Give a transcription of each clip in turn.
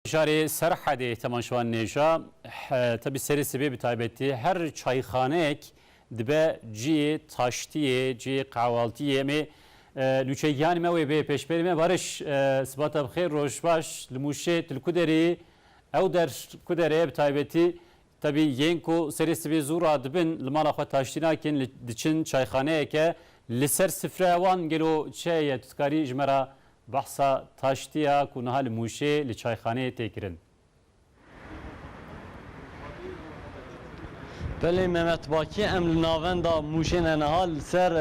Şarê Serhedê temaşewan nêja tevî serê sibê bi taybetî her çayxaneyek dibe ciyê taştiyê, ciyê qehwaltiyê. Em ê nûçegiyanê me wê bê pêşberê me. Bariş siba te bi xêr roj baş. Li Mûşê tu li ku derê yî? Ew der ku der e bi taybetî tevî yên ku serê sibê zû radibin li mala xwe taştî nakin diçin çayxaneyeke li ser sifreya wan gelo çi heye? Tu dikarî ji me re Behsa taştî ya ku niha li Mûşê li çayxaneyê tê kirin. Belê Mehmet Bakî em li navenda Mûşê ne niha li ser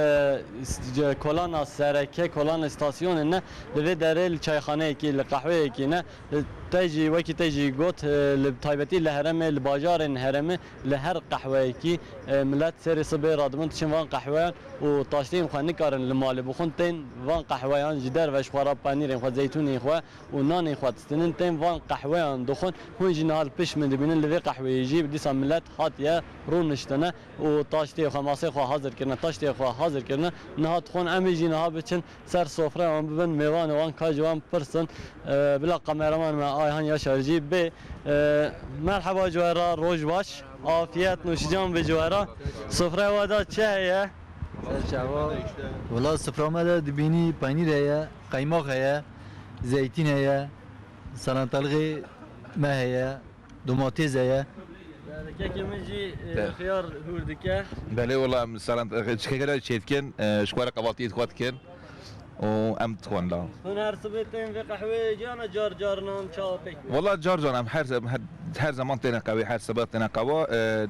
kolana sereke, kolana stasyonê ne li vê derê li çayxaneyekî, li qehweyekî ne. Te jî wekî te jî got li taybetî li heremê, li bajarên herêmê Li her qehweyekî milet serê sibê radibin diçin van qehweyan û taşteyên xwe nikarin li malê bixwin tên van qehweyan ji derve ji xwe re penîrên xwe, zeytûnên xwe û nanên xwe distînin tên van qehweyan dixwin. Hûn jî niha li pişt min dibînin li vê qehweyê jî dîsa milet hatiye rûniştine û taştê xwe, masê xwe hazir kirine, taştê xwe hazir kirine niha dixwin em ê jî niha biçin Ser sofraya wan bibin, mêvanê wan, kajê wan bipirsin. Bila kameraman me Ayhan Yaşar jî bê. Merheba ji we re, roj baş. Afiyet, nûşican bê ji we re. Sofraya we de çi heye? Ser çawa? Wela sofraya me de dibînî peynîr heye, qeymaq heye, zeytîn heye, salantalixê me heye. Domatêze ye. Belê kekê min jî xiyar hûr dike. Belê wela em salan keke re çêy dikin ji xwe re qevatiyê dixwe dikin û em dixwin la. Hûn her sibê tên vê qehweyê ciyana car car nan ça pêk bê? Wela car car em her her zeman têne qewê her sibe têne qewa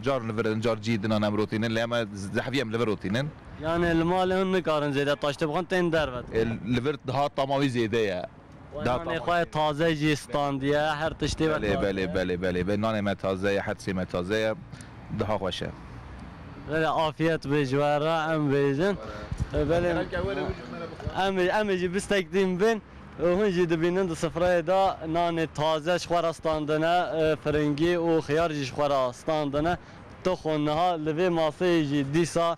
car li vir in car cî dinan em rotînin lê em zehfî em li vir rotînin. Yanê li malê hûn nikarin zêde taştê bixwin tên derve dixwin? Li vir dihat tama wî zêde ye. Nanê xwe taze jî standiye, her tiştê we taze ye. Belê, belê, belê. Nanê me taze ye, her tiştê me taze ye. Daha xweş e. Belê, afiyet be ji we re em bêjin. Belê, em ê jî bi stek tîm bin û hûn jî dibînin di sifreyê de nanê taze ji xwe re standine, firingî û xiyar jî ji xwe re standine. Toxo niha li vê maseyê jî dîsa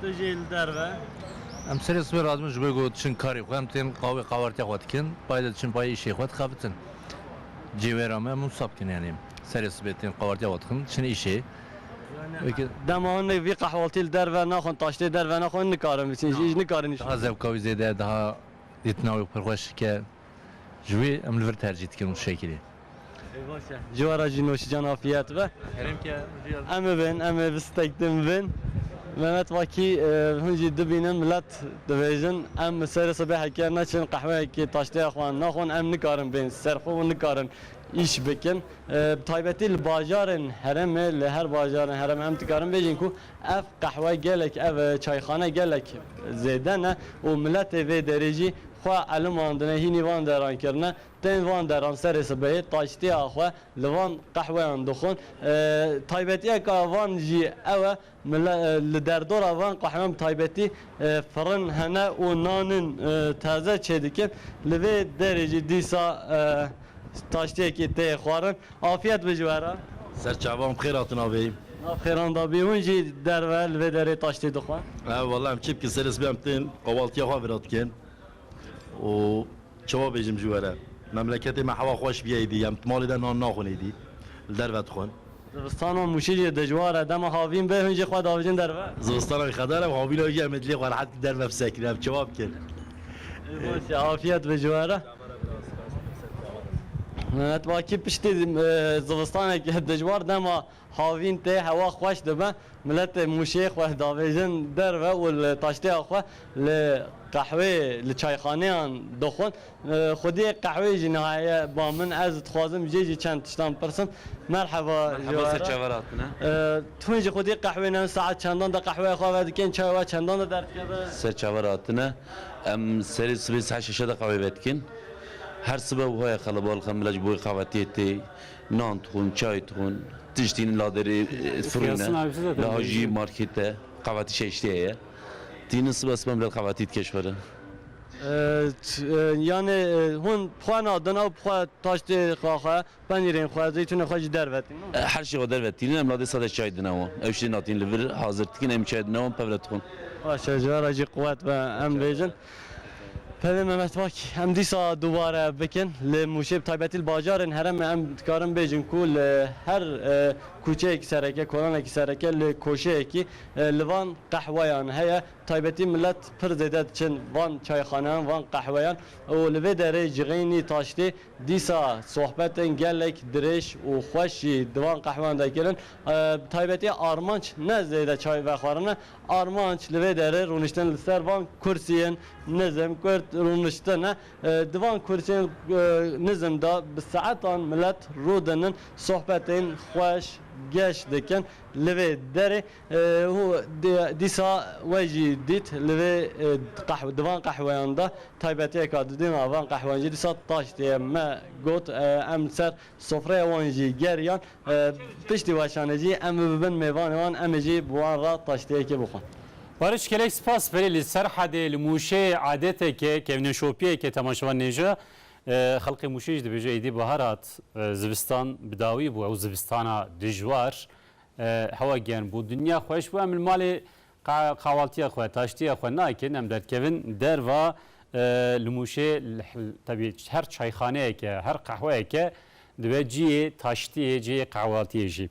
Tu jî li derve. Em serê sibê radibin ji ber ku diçin karê xwe, em tên qawê qawertiya xwe dikin, payê de diçin payê îşê xwe dixebitin. Cêwêra me em wisa bikin yanî serê sibê tên qawertiya xwe dixin diçin îşê. Dema hinek vî qehwaltî li derve naxwin taştê derve naxwin nikarin bîsin jî nikarin îş bikin. Daha zevka wî zêde ye, daha dîtina wî pirxweş dike. Ji wî em li vir tercîh dikin û şekilî. Ê baş e. Ji we re jî nûşîcan afiyet be. Herêm ke rîya bî. Em ê bên, em ê bi stek din bin. Mehmet Vakî, Hûn jî dibînin milet dibêjin em bi serê sibê heke neçin qehweyekê taşteya xwe naxwin em nikarin bên ser xwe û nikarin îş bikin. Bi taybetî li bajarên herêmê, li her bajarên herêmê em dikarin bêjin ku Ev qehwe gelek ev çayxane gelek zêde ne û miletê vê derê jî xwe elimandine hînî van deran kirine. Tên van deran serê sibehê taştiya xwe li van qehweyan dixwin. Taybetiyeka van jî ew e mile li derdora van qehweyan bi taybetî firin hene û nanin taze çêdikin. Li vê derê jî dîsa taştiyekî tê xwarin. Afiyet be ji we re. Ser çavan bixêr hatin avê. Nav xêran da bî. Hûn jî derve li vê derê taştê dixwin. Ew wala em çi bikin serê sibê em tên qavaltiya xwe vira dikin û çiwa bêjim ji we re. Memleketê me hewa xweş bîye êdî em di malê de nan naxwin êdî li derve dixwin. Zivistana mûşî jî dijwar e dema havîn be hûn jî xwe davijin derve. Zivistana wî qedar e û havîna wî jî em ê dilê xwe rehet bi derve fisekrin em çiwa bikin. Baş e afiyet be ji we re. Netewakî piştî zivistaneke dijwar dema havîn tê hewa xweş dibe miletê mûşê xwe davêjin derve û li taştêya xwe li qehwê li çayxaneyan dixwin. Xwediyê qehwê jî niha heye ba min ez dixwazim jê jî çend tiştan pirsim. Merheba hûn ji xwediyê qehwê ne saet çendan de qehweya xwe vedikin çaya we çendan de derdikeve? Serçaver hatine Em serê sibê saet şeş de qawê vedikin. Her sibe wiha ye qelebalix em bila ji bo wê qavetiyê tê nan dixwin, çay dixwin, tişt tînin la derê firûne, wiha jî markêt e, qavetî şeştê ye. Tînin sibe sibe em bila qavetî dike ji xwe re. Yanê hûn bi xwe nadin ew bi xwe taştê xwe xwe Penîrên xwe, zeytûnên xwe jî dervetîn. Her şî xwe dervetîn. Em ladê sade çay dine wan. Ew şî natîn li vir hazir dikin. Em çay dine wan pev re dixwin. Baş e, ji vera jî quwet be. Em bêjin pevê me mestbak em dîsa dubare bikin. Li Mûşê bi taybetî li bajarên herêmê em dikarin bêjin ku li her kûçeyekî sereke, kolanekî sereke li koşeyekî li van qehweyan heye. Bi taybetî milet pir zêde diçin van çayxaneyan, van qehweyan û li vê derê cixênî, taştê Dîsa sohbetên gelek dirêj û xweş jî di van qehweyan de kirin. Bi taybetî armanc ne zêde çay vexwarin e. Armanc li vê derê rûniştin li ser van kursiyên nizm, kurd rûniştin e. Di van kursiyên nizm de bi saetan milet rûdinin, sohbetên xweş geş dikin. Li vê derê. Û dîsa we jî dît li vê qehwe di van qehweyan de taybetiyeka didîna van qehweyan jî dîsa taş tê. Me got em li ser sofreya wan jî geriyan. Piştî weşanê jî em bi bin mêvanê wan em ê jî bi wan re taşteyekê bixwin. Barış gelek spas verê li Serhedê li Mûşê adeteke kevneşopiyeke temaşevan nêje. Xelkê Mûşê jî dibêje êdî bahar hat, zivistan bi dawî bû ew zivistana dijwar Hewa giyan bû dinya xweş bû em li malê qawaltiya xwe taştiya xwe nakin em derdkevin derva li mûşê tevî her çayxaneyeke her qehweyeke dibe ciyê taştiyê ciyê qewaltiyê jî.